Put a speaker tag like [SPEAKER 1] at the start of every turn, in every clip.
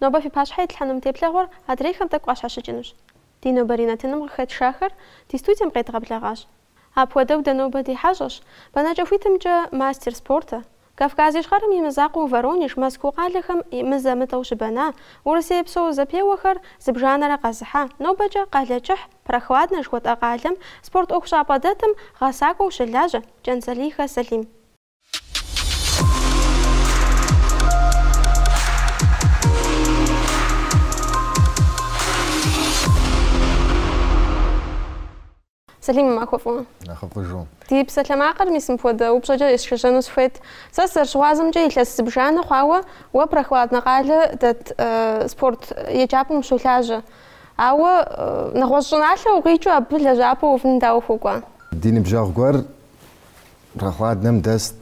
[SPEAKER 1] Нобэ фи пащхьэ итлъхьэну мы теплъэгъуэр адрейхэм тӏэкӏу къащхьэщыкӏынущ. Ди нобэрей нэтыным къыхэтшахэр ди студием къедгъэблэгъащ. Апхуэдэу дэ нобэ ди хьэщӏэщ, бэнэкӏэ хуитымкӏэ, мастер спорта, Кавказ Ищхъэрэм и мызакъуэу Воронеж, Москуу къалэхэм мызэ-мытӏэу щыбэна, Урысей псо зэпеуэхэр зыбжанэрэ къэзыхьа, нобэкӏэ Къалэкӏыхь, Прохладнэ жыхуэтӏэ къалэм, спорт ӏуэхущӏапӏэ дэтым гъэсакӏуэу щылажьэ, Кӏэнцӏалийхэ Сэлим. Сэлим, уи махуэ фӏыуэ. Нэхъыфӏыжу. Ди
[SPEAKER 2] псалъэмакъыр
[SPEAKER 1] мис мыпхуэдэ упщӏэкӏэ есшэжьэну сыхуейт. Сэ сызэрыщыгъуазэмкӏэ илъэс зыбжанэ хъуауэ уэ Прохладнэ къалэ дэт спорт еджапӏэм ущолажьэ. Ауэ нэгъуэщӏ щӏыналъэ укъикӏыу абы лэжьапӏэ уувын дауэ ухуэкӏуа? Ди ныбжьэгъу
[SPEAKER 2] гуэр Прохладнэм дэст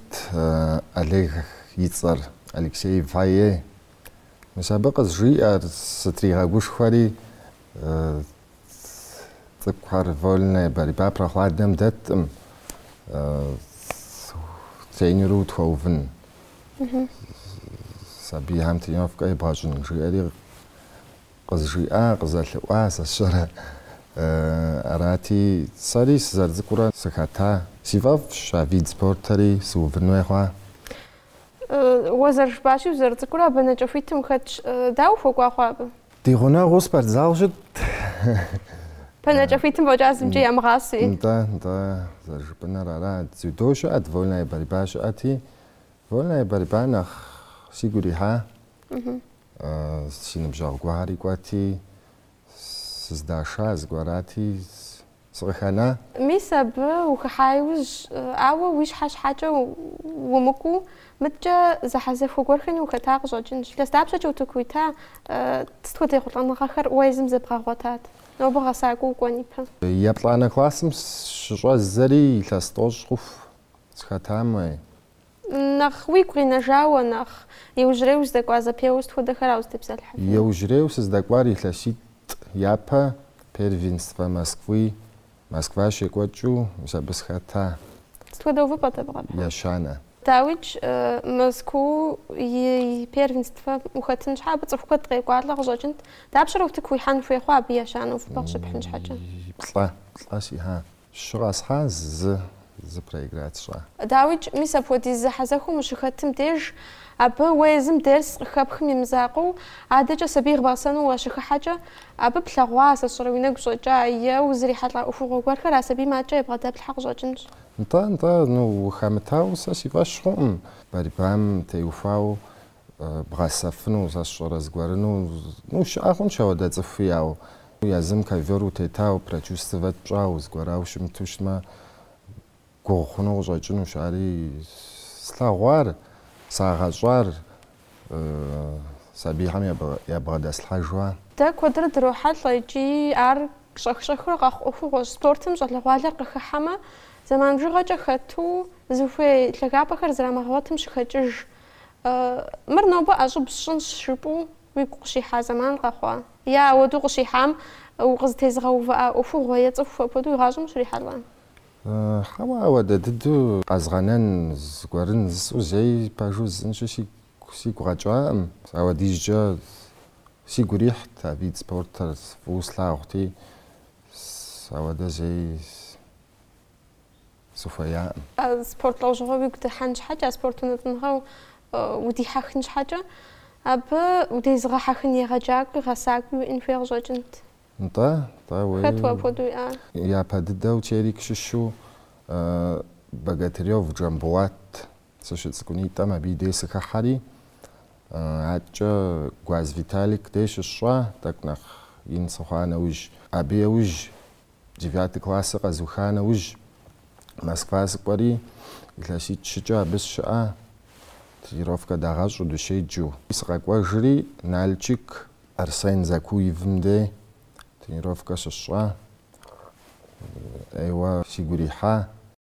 [SPEAKER 2] Олег и цӏэр, Алексей фае. Мис абы къызжиӏэри сытригъэгушхуэри, цӏыкӏухэр вольная борьба Прохладнэм дэткъым, тренеру тхуэувын, сабийхэм тренировкэ ебгъэщӏын, жиӏэри. Къызжиӏа, къызэлъыӏуа сэ сщӏэрэ? Арати, сэри сызэрыцӏыкӏурэ сыхэта? Си фӏэфӏщ а вид спортэри сыувын хуей хъуа? Уэ зэрыжыпӏащи,
[SPEAKER 1] узэрыцӏыкӏурэ а бэнэкӏэ хуитым ухэтщ. Дауэ ухуэкӏуа хъуа абы? Ди
[SPEAKER 2] гъунэгъуу спортзал щытт. Бэнэкӏэ
[SPEAKER 1] хуитым фӏэкӏа зымкӏэ ямыгъасэи? Да,
[SPEAKER 2] да, зэрыжыпӏэныр ара. Дзюдо щыӏэт, вольная борьба щыӏэти, вольная борьба нэхъ сигу ирихьа. Си ныбжьэгъу гуэрхэри кӏуэти, сыздаша зэгуэр, арати, сыкъыхэна. Мис абы
[SPEAKER 1] ухыхьа иужь, ауэ уи щхьэ щхьэкӏэ умыкӏуэу, мыдэкӏэ зэхьэзэхуэ гуэрхэми ухэта къыщӏэкӏынщ. Илъэс дапщэкӏэ утыку уита? Сыт хуэдэ ехъулӏэныгъэхэр уэ езым зэбгъэгъуэтат? Нобэ гъэсакӏуэу укӏуэн ипэ. Еплӏанэ классым
[SPEAKER 2] щыщӏэздзэри илъэс тӏощӏ хъуху сыхэтам
[SPEAKER 1] Нэхъ уигу къинэжауэ, нэхъ иужьрей уздэкӏуа зэпеуэ сыт хуэдэхэра узытепсэлъыхьыфыну? Иужьрейу
[SPEAKER 2] сыздэкӏуар илъэситӏ япэ Первенствэ Москвы, Москва щекӏуэкӏыу мис абы сыхэта. Сыт хуэдэ
[SPEAKER 1] увыпӏэт абы къэпхьар? Ещанэ. Дауикӏ, Москуу и Первенствэм ухэтын щхьэ, абы цӏыху куэд къекӏуалӏэ къыщӏэкӏынт. Дапщэрэ утыку уихьэн хуей хъуа абы ещанэ увыпӏэ къыщыпхьын щхьэкӏэ? Плӏэ, плӏэ
[SPEAKER 2] сихьа. Щы къэсхьа, зы, зы проиграть сщӏа. Дауикӏ,
[SPEAKER 1] мис апхуэдиз зэхьэзэхуэм ущыхэтым деж, абы уэ езым дерс къыхэпхым и мызакъуэу, адэкӏэ сабий бгъэсэну уащыхыхьэкӏэ, абы плъэгъуа, сэ сщӏэрэ уи нэгу щӏэкӏа, е узрихьэлӏа ӏуэхугъуэ гуэрхэр а сабийм адэкӏэ ябгъэдэплъхьэ къыщӏэкӏынщ. Нтӏэ, нтӏэ,
[SPEAKER 2] ну, ухэмытауэ сэ си фӏэщ хъуӏым, борьбам теухуауэ бгъэсэфыну, сэ сщӏэрэ зыгуэрыну, ну, щыӏэ хъунщ ауэдэ цӏыхуи, ауэ езым ковер утетау, прочувствовать пщӏау, зыгуэрау щымыту щытмэ, гугъу хъуну къыщӏэкӏынущ. Ари слъэгъуар, сагъэщӏар сабийхэм ябгъэдэслъхьэжуа? Дэ
[SPEAKER 1] куэдрэ дрохьэлӏэ икӏи ар щӏэх-щӏэхыурэ къэхъу ӏуэхугъуэщ. Спортым щӏалэгъуалэр къыхыхьэмэ, зэман бжыгъэкӏэ хэту, зыхуей лъагапӏэхэр зрамыгъэгъуэтым щыхэкӏыж. Мыр нобэ ӏэщӏыб сщӏынщ жыпӏэу уигу къыщихьа зэман къэхъуа? Е ауэдэу къыщихьам укъызытезыгъэувыӏа ӏуэхугъуэ е цӏыху апхуэдэу уи гъащӏэм ущрихьэлӏа? Хьэуэ,
[SPEAKER 2] ауэдэ дыдэу къэзгъэнэн зыгуэрын зысӏэу зэи пэжу зысӏэнщи сигу къэкӏаӏым. Ауэдизкӏэ сигу ирихьт а вид спортыр фӏыуэ слъагъути, ауэдэ зэи. сыхуеяӏым. Спорт лӏэужьыгъуэ
[SPEAKER 1] уигу дыхьэн щхьэкӏэ, а спорт унэтӏыныгъэу удихьэхын щхьэкӏэ, абы удезыгъэхьэхын егъэджакӏуи, гъэсакӏуи уиӏэн хуей къыщӏэкӏынт. Нтӏэ, нтӏэ, уей.
[SPEAKER 2] Хэт уэ апхуэдэу
[SPEAKER 1] уиӏар? Япэ дыдэу
[SPEAKER 2] Терек щыщу Богатырев Джамбулат сыщыцӏыкӏунитӏэм абы и дей сыхыхьэри, адэкӏэ Гуаз Виталик дей щысщӏа, тӏэкӏу нэхъ ин сыхъуа нэужь. Абы еужь Девятый классыр къэзыуха нэужь, Москва сыкӏуэри, илъэситӏ-щыкӏэ абы сщыӏа, тренировкэ дагъэщӏу, дыщеджу. Сыкъэкӏуэжри, Налчик Арсен Закуевым де тренировкэ щысщӏа, ӏейуэ сигу ирихьа.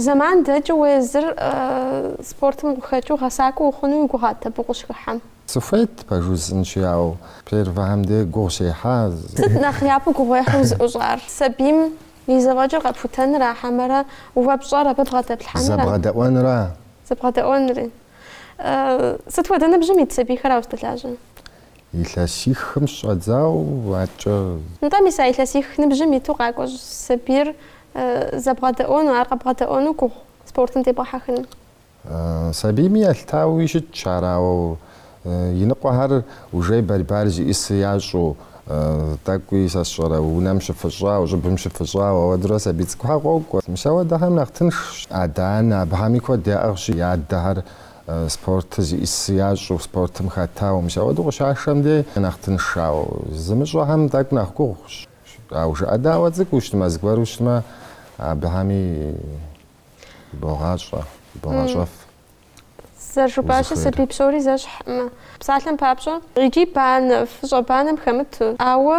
[SPEAKER 1] Зэман дэкӏыу уезыр спортым къыхэкӏыу гъэсакӏуэ ухъуну уи гугъат абы укъыщыхыхьэм?
[SPEAKER 2] Сыхуейт пэжу зысӏэнщи, ауэ первэхэм де гугъу сехьа. Сыт нэхъ
[SPEAKER 1] япэу гугъуехьу узыӏущӏар? Сабийм и зэфӏэкӏыр къэпхутэнра хьэмэрэ уэ пщӏэр абы бгъэдэплъхьэнра? Зэбгъэдэӏуэнра?
[SPEAKER 2] Зэбгъэдэӏуэнри.
[SPEAKER 1] Сыт хуэдэ ныбжьым ит сабийхэра уэ уздэлажьэр?
[SPEAKER 2] Илъэсихым щыщӏэдзау аткӏэ. Нтӏэ, мис а илъэсих
[SPEAKER 1] ныбжьым иту къакӏуэщӏ сабийр зэбгъэдэӏуэну, ар къэбгъэдэӏуэну гугъу спортым дебгъэхьэхыну.
[SPEAKER 2] Сабийми елъытауи щытщ ар, ауэ иныкъуэхэр уже борьбар зиӏысыр ящӏу, Тӏэкӏуи сэ сщӏэрэ, унэм щыфыщӏау, щӏыбым щыфыщӏау, ауэдурэ сабий цӏыкӏухэр къокӏуэ. Мис ауэдэхэм нэхъ тыншщ. Адэ-анэ абыхэми куэд яӏыгъщи, я адэхэр спортыр зиӏысыр ящӏу, спортым хэтау. Мис ауэдэу къыщашэм дей нэхъ тыншщ. Ауэ зымыщӏэхэм тӏэкӏу нэхъ гугъущ. Ауэ жыӏэдаӏуэ цӏыкӏуу щытмэ, зыгуэру щытмэ, абыхэми богъащӏэ, богъащӏэф.
[SPEAKER 1] Зэрыжыпӏащи, сабий псори зэщхьӏым, псалъэм папщӏэ, икӏи банэ, фӏыщӏэ банэм хэмыту. Ауэ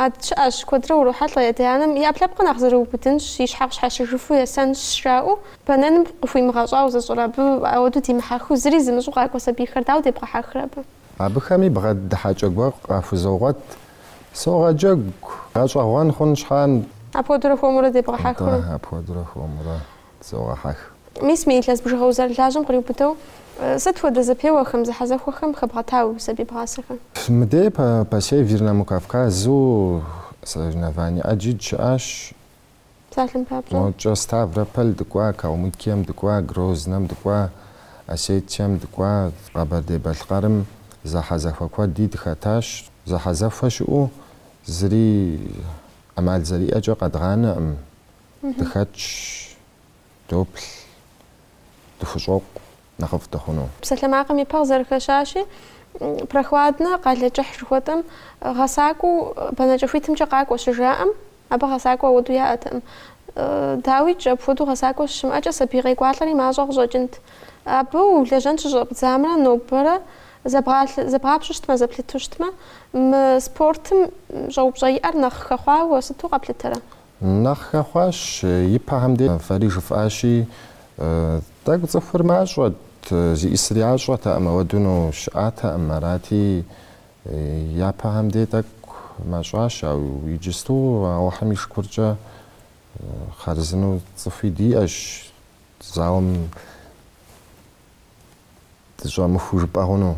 [SPEAKER 1] адэ щыӏэщ, куэдрэ урохьэлӏэ адэ-анэм, и ӏэпкълъэпкъыр нэхъ зэрыубыдынщ, и щхьэ къыщхьэщыжыфу есэнщ, жраӏэу, бэнэным къыхуимыгъэщӏауэ зыщӏыр, абы ауэдэу димыхьэхыу, зыри зымыщӏу къакӏуэ сабийхэр дауэ дебгъэхьэхрэ абы? Абыхэми
[SPEAKER 2] бгъэдыхьэкӏэ гуэр къахузогъуэт, согъэджэгу, гъэщӏэгъуэн хъун щхьа. Апхуэдэурэ хуэмурэ
[SPEAKER 1] дебгъэхьэхыу. Атӏэ, апхуэдэурэ хуэмурэ.
[SPEAKER 2] Зогъэхьэх. Мис мы илъэс
[SPEAKER 1] бжыгъэ узэрылажьэм къриубыдэу, сыт хуэдэ зэпеуэхэм, зэхьэзэхуэхэм хэбгъэта уи сабий бгъасэхэр? Мыдей
[SPEAKER 2] по Северному Кавказу соревнование ӏэджи дыщыӏащ.
[SPEAKER 1] Псалъэм папщӏэ. Мокӏэ
[SPEAKER 2] Ставрополь дыкӏуа, Калмыкием дыкӏуа, Грознэм дыкӏуа, Осетием дыкӏуа, Къэбэрдей-Балъкъэрым зэхьэзэхуэ куэди дыхэтащ. Зэхьэзэхуэ щыӏэу зыри ӏэмал зэриӏэкӏэ къэдгъанэкъым. Дыхэтщ, доплъ, дыхущӏокъу нэхъыфӏ дыхъуну. Псалъэмакъым и пэ
[SPEAKER 1] къызэрыхэщащи, Прохладнэ къалэ кӏыхь жыхуэтӏэм гъэсакӏуэу бэнэкӏэ хуитымкӏэ къакӏуэ щыжаӏэм, абы гъэсакӏуэ ауэду яӏэтэкъым. Дауикӏ, апхуэдэу гъэсакӏуэ щымыӏэкӏэ сабий къекӏуалӏэри мащӏэ къыщӏэкӏынт. Абы улэжьэн щыщӏэпдзамрэ нобэрэ зэбгъапщӏу щытмэ, зэплъыту щытмэ, мы спортым щӏэупщӏэ иӏэр нэхъ хэхъуауэ уэ сыту къэплъытэрэ? Нэхъ
[SPEAKER 2] хэхъуащ, ипэхэм де фэри жыфӏащи, тӏэкӏу цӏыхур мащӏэт, зиӏисыр ящӏэтэкъым, ауэдуну щыӏатэкъым, арати, япэхэм де тӏэкӏу мащӏащ, ауэ иджысту Алыхьым и шыкуркӏэ хъарзыну цӏыхуи диӏэщ, залым дыщӏэмыхуу жыпӏэ хъуну,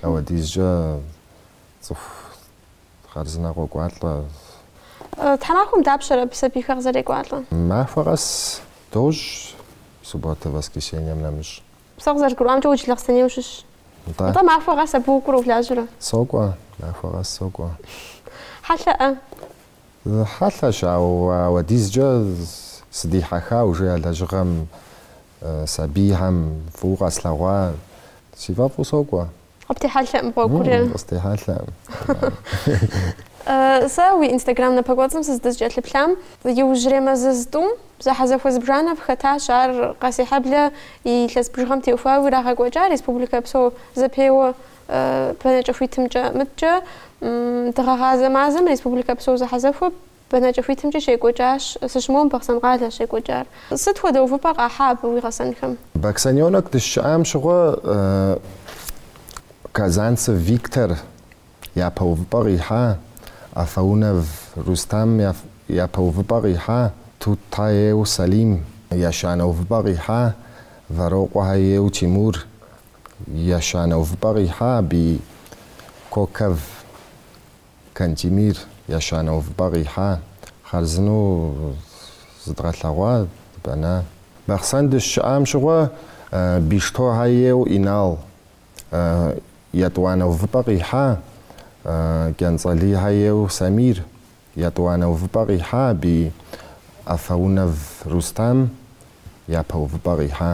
[SPEAKER 2] ауэдизкӏэ цӏыху Хъарзынэ
[SPEAKER 1] къокӏуалӏэ. Тхьэмахуэм дапщэрэ абы сабийхэр къызэрекӏуалӏэ? Махуэ
[SPEAKER 2] къэс дощӏ, субботэ, воскресеньем нэмыщӏ. Сэ къызэрызгурыӏуамкӏэ
[SPEAKER 1] уэ Джылахъстэней ущыщщ. Нтӏэ. Нтӏэ, махуэ къэс абы укӏуэрэ улажьэрэ?
[SPEAKER 2] Сокӏуэ, махуэ къэс
[SPEAKER 1] сокӏуэ.
[SPEAKER 2] Хьэлъэӏэ? Хьэлъэщ, ауэ ауэдизкӏэ сыдихьэха уже а лэжьыгъэм сабийхэм фӏыуэ къэслъэгъуа, си фӏэфӏу сокӏуэ.
[SPEAKER 1] Къыптехьэлъэӏым гъуэгур.
[SPEAKER 2] Къыстехьэлъэӏым.
[SPEAKER 1] Сэ уи инстаграм напэкӏуэцӏым сыздыкӏэлъыплъам иужьрей мазэ зытӏум зэхьэзэхуэ зыбжанэ фыхэтащ, ар Къэсейхьэблэ и илъэс бжыгъэм теухуауи ирагъэкӏуэкӏа республикэ псо зэпеуэ бэнэкӏэ хуитымкӏэ. Мыдкӏэ дыгъэгъазэ мазэм республикэ псо зэхьэзэхуэ Бэнэкӏэ хуитымкӏи щекӏуэкӏащ. Сыщымыуэм Бахъсэн къалэщ щекӏуэкӏар. Сыт хуэдэ увыпӏэ къахьа абы уи гъэсэнхэм?
[SPEAKER 2] Баксаненок дыщыӏам щыгъуэ Казанцев Виктор япэ увыпӏэ къихьа, Афаунов Рустам япэ увыпӏэ къихьа, Тутаев Салим ещанэ увыпӏэ къихьа, Вэрокъуэхьэ ейуэ Тимур ещанэ увыпӏэ къихьа, аби Коков Кантемир ещанэ увыпӏэ къихьа, хъарзынэу зыдгъэлъэгъуа Бэнэ? Бахъсэн дыщыӏам щыгъуэ Биштохьэ ейуэ Инал етӏуанэ увыпӏэ къихьа, Кӏэнцӏалийхьэ ейуэ Самир етӏуанэ увыпӏэ къихьа аби Афаунов Рустам япэ увыпӏэ къихьа.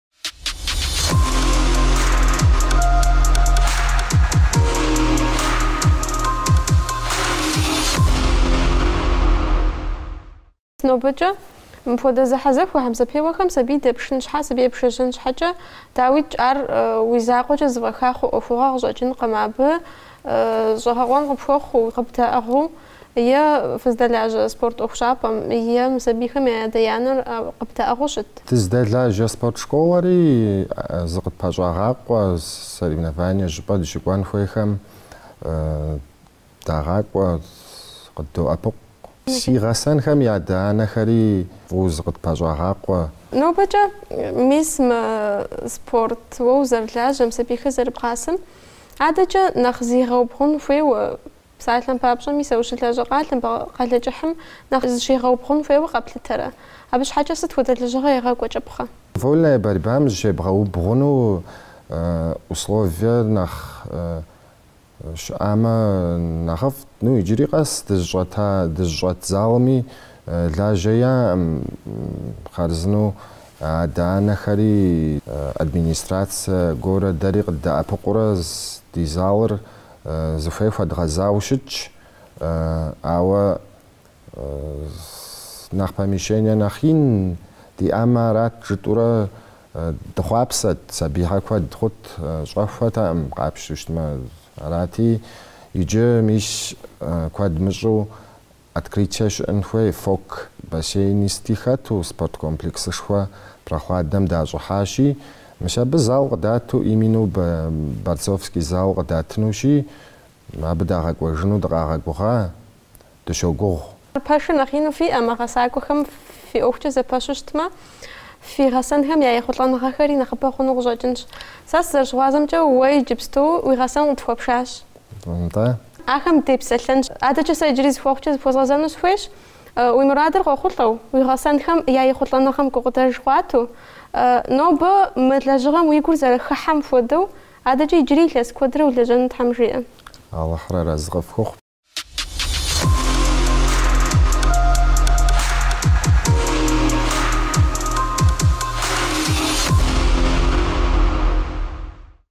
[SPEAKER 1] Нобэкӏэ мыпхуэдэ зэхьэзэхуэ хьэмэ зэпеуэхэм сабий дэпшын щхьэ, сабий епшэжьэн щхьэкӏэ, дауикӏ, ар уи закъуэкӏэ зэфӏэха хъу ӏуэхугъуэ къыщӏэкӏынкъым абы, щӏэгъэкъуэн къыпхуэхъуу, къыбдэӏыгъыу. е фыздэлажьэ спорт ӏуэхущӏапӏэм, е мы сабийхэм я адэ-янэр къыбдэӏыгъыу щыт. Дыздэлажьэ
[SPEAKER 2] спорт школэри зыкъытпэщӏагъакъуэ, соревнование щӏыпӏэ дыщыкӏуэн хуейхэм дагъакӏуэ, къыддоӏэпыкъу. Си гъэсэнхэм я адэ-анэхэри фӏыуэ зыкъытпэщӏагъакъуэ.
[SPEAKER 1] Нобэкӏэ мис мы спорт уэ узэрылажьэм, сабийхэр зэрыбгъасэм адэкӏэ нэхъ зигъэубгъун хуейуэ Псалъэм папщӏэ, мис уэ ущылажьэ къалэм, Къалэкӏыхьым, нэхъ зыщигъэубгъун хуейуэ къэплъытэрэ? Абы щхьэкӏэ сыт хуэдэ лэжьыгъэ егъэкӏуэкӏыпхъэ? Вольная борьбам
[SPEAKER 2] зыщебгъэубгъуну условие нэхъ щыӏамэ нэхъыфӏт. Ну, иджыри къэс дызыщӏэта, дызыщӏэт залми лажьэ яӏэкъым, хъарзынэу адэ-анэхэри, администрацэ гуэрэ дэри къыддэӏэпыкъуурэ ди залыр Зыхуей хуэдгъэзауэ щытщ, ауэ нэхъ помещение нэхъ ин диӏамэ арат жытӏурэ дыхъуапсэт, сабийхьэ куэд хъут, щӏэхуэтэкъым къапщту щытмэ. Арати, иджы мис куэд мыщӏу Открытие щыӏын хуей ФОК бассейни сыти хэту спорт комплексышхуэ Прохладнэм дащӏыхьащи, мис абы зал къыдату именно борцовский зал къыдатынущи, абы дагъэкӏуэжыну дыкъагъэгугъа, дыщогугъ. Пэш
[SPEAKER 1] нэхъ ину фиӏэмэ, гъэсакӏуэхэм фи ӏуэхукӏэ зэпэщу щытмэ, фи гъэсэнхэм я ехъулӏэныгъэхэри нэхъыбэ хъуну къыщӏэкӏынщ. Сэ сызэрыщыгъуазэмкӏэ, уэ иджыпсту уи гъэсэн къытхуэпшащ.
[SPEAKER 2] Нтӏэ.
[SPEAKER 1] Ахэм депсэлъэнщ. Адэкӏэ сэ иджыри зы хъуэхъукӏэ зыпхуэзгъэзэну сыхуейщ. Уи мурадыр къохъулӏэу, уи гъэсэнхэм я ехъулӏэныгъэм гукъыдэж хэбгъуатэу, нобэ мы лэжьыгъэм уи гур зэрыхыхьэм хуэдэу, адэкӏэ иджыри илъэс куэдрэ улэжьэну Тхьэм жиӏэ.
[SPEAKER 2] Алыхьыр арэзы къыфхуэхъу.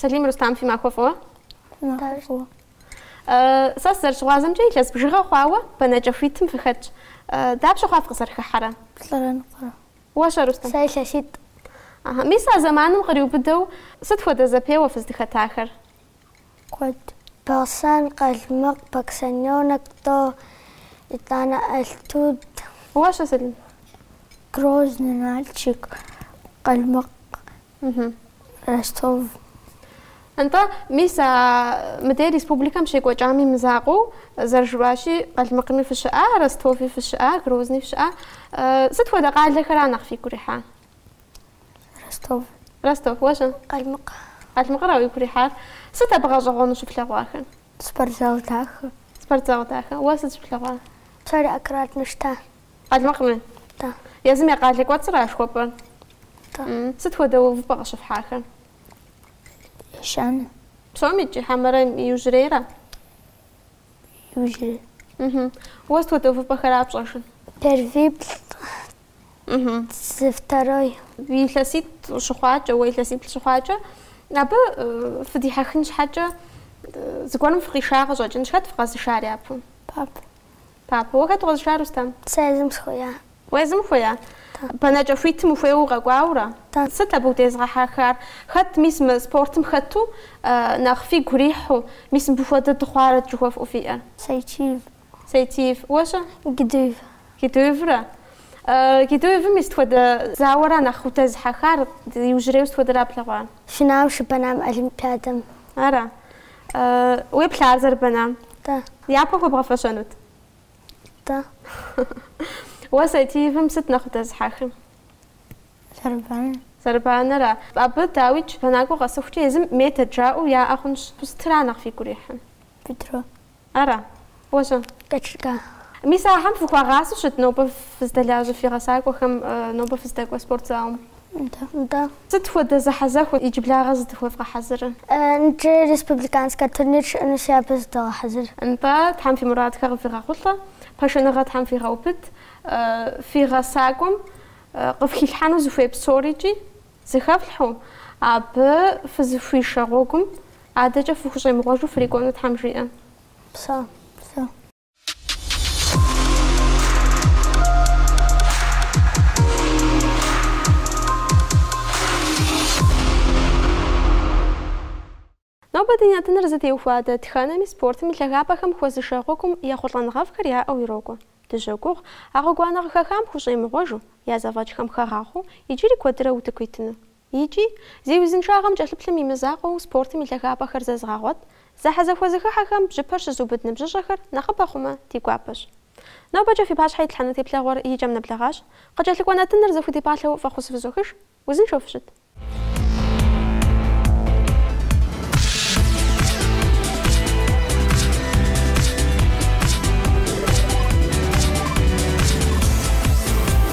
[SPEAKER 1] Салим Рустам фи махуэ фӏыуэ?
[SPEAKER 3] Махуэ
[SPEAKER 1] фӏыуэ. Сэ сызэрыщыгъуазэмкӏэ илъэс бжыгъэ хъуауэ бэнэкӏэ хуитым фыхэтщ. Дапщэ хъуа фыкъызэрыхыхьэрэ? Плӏырэ
[SPEAKER 3] ныкъуэрэ. Уэ щэ, Рустам? Сэ
[SPEAKER 1] илъэситӏ.
[SPEAKER 3] Ахьа. Мис а
[SPEAKER 1] зэманым къриубыдэу сыт хуэдэ зэпеуэ фыздыхэтахэр?
[SPEAKER 3] Куэд. Бахъсэн, Къалмыкъ, Баксаненок тӏо, итӏанэ Алтуд. Уэ щэ, Салим?
[SPEAKER 1] Грозный,
[SPEAKER 3] Налчик, Къалмыкъ, Ростов.
[SPEAKER 1] Нтӏэ, мис а мыдей республикэм щекӏуэкӏами мызакъуэу, зэрыжыфӏащи, Къалмыкъми фыщыӏа, Ростови фыщыӏа, Грозни фыщыӏа. Сыт хуэдэ къалэхэра нэхъ фигу ирихьа? Ростов. Ростов. Уэ щэ?
[SPEAKER 3] Къалмыкъ. Къалмыкъыра
[SPEAKER 1] уигу ирихьар? Сыт абы гъэщӏэгъуэну щыфлъэгъуахэр? Спортзал
[SPEAKER 3] дахэ. Спортзал дахэ.
[SPEAKER 1] Уэ сыт щыплъэгъуа? Псори аккуратно
[SPEAKER 3] щыта.
[SPEAKER 1] Къалмыкъми?
[SPEAKER 3] Да. Езым я
[SPEAKER 1] къалэ кӏуэцӏыра жыхуэпӏэр?
[SPEAKER 3] Да. Сыт хуэдэ
[SPEAKER 1] увыпӏэ
[SPEAKER 3] къыщыфхьахэр? Ещанэ.
[SPEAKER 1] Псомкӏи хьэмэрэ иужьрейра?
[SPEAKER 3] Иужьрей. Уэ сыт
[SPEAKER 1] хуэдэ увыпӏэхэра пщӏэжыр?
[SPEAKER 3] Первиплӏ. Зы второй.
[SPEAKER 1] Илъэситӏ щыхъуакӏэ, уэ илъэсиплӏ щыхъуакӏэ, абы фыдихьэхын щхьэкӏэ зыгуэрым фыкъиша къыщӏэкӏынщ. Хэт фыкъэзышар япэу? Папэ. Папэ. Уэ
[SPEAKER 3] хэт
[SPEAKER 1] укъэзыша, Рустам?
[SPEAKER 3] Сэ
[SPEAKER 1] езым
[SPEAKER 3] сыхуея. Уэ
[SPEAKER 1] езым ухуея? Да. Бэнэкӏэ хуитым ухуейуэ укъэкӏуауэра? Да. Сыт
[SPEAKER 3] абы удезыгъэхьэхар?
[SPEAKER 1] Хэт мис мы спортым хэту нэхъ фигу ирихьу, мис мыбы хуэдэ дыхъуарэт жыхуэфӏэу фиӏэр? Сайтиев. Сайтиев. Уэ-щэ?
[SPEAKER 3] Гедуев. Гедуевра?
[SPEAKER 1] Гедуевым и сыт хуэдэ зауэра нэхъ удэзыхьэхар, иужьрейуэ сыт хуэдэра плъэгъуар? Финал щыбэнам
[SPEAKER 3] олимпиадэм. Ара?
[SPEAKER 1] Уеплъа ар зэрыбэнам? Да.
[SPEAKER 3] Япэ
[SPEAKER 1] хуэбгъэфэщэнут? Да.
[SPEAKER 3] Уэ
[SPEAKER 1] Сайтиевым сыт нэхъ удэзыхьэхыр? Зэрыбанэ. Зэрыбанэра? Абы дауикӏ бэнакӏуэ къэсыхукӏэ езым метод жаӏэу яӏэ хъунщ. Сытра нэхъ фигу ирихьыр? Бедро.
[SPEAKER 3] Ара?
[SPEAKER 1] Уэщӏэ.
[SPEAKER 3] Кэчлька. Мис
[SPEAKER 1] ахэм фыхуагъасэу щыт нобэ фыздэлажьэ фи гъэсакӏуэхэм, нобэ фыздэкӏуэ спортзалым? Нтэ, нтӏэ.
[SPEAKER 3] Сыт хуэдэ
[SPEAKER 1] зэхьэзэхуэт иджыблагъэ зытыхуэвгъэхьэзырыр? Нтӏэ,
[SPEAKER 3] республиканскэ турнир щыӏэнущи абы зыдогъэхьэзыр. Нтӏэ, Тхьэм
[SPEAKER 1] фи мурадхэр къыфигъэхъулӏэ, пашэныгъэ Тхьэм фигъэубыд, фи гъэсакӏуэм къыфхилъхьэну зыхуей псорикӏи зыхэфлъхьэу, абы фызыхуишэ гъуэгум адэкӏэ фыхущӏемыгъуэжу фрикӏуэну Тхьэм жиӏэ. Упсэу,
[SPEAKER 3] упсэу.
[SPEAKER 1] Нобэ ди нэтыныр зытеухуа дэтхэнэми спортым и лъагапӏэхэм хуэзышэ гъуэгум ехъулӏэныгъэфӏхэр яӏэу ирокӏуэ. Дыщогугъ, а гъуэгуанэ къыхахам хущӏемыгъуэжу, я зэфӏэкӏхэм хагъахъуэу, иджыри куэдрэ утыку итыну. Икӏи, зи узыншагъэм кӏэлъыплъым и мызакъуэу спортым и лъагапӏэхэр зэзыгъэгъуэт, зэхьэзэхуэ зыхыхьэхэм бжьыпэр щызыубыд ныбжьыщӏэхэр нэхъыбэ хъумэ, ди гуапэщ. Нобэкӏэ фи пащхьэ итлъхьэну теплъэгъуэр и кӏэм нэблэгъащ, къыкӏэлъыкӏуэ нэтыныр зэхудипӏалъэу фӏэхъус фызохыж, узыншэу фыщыт.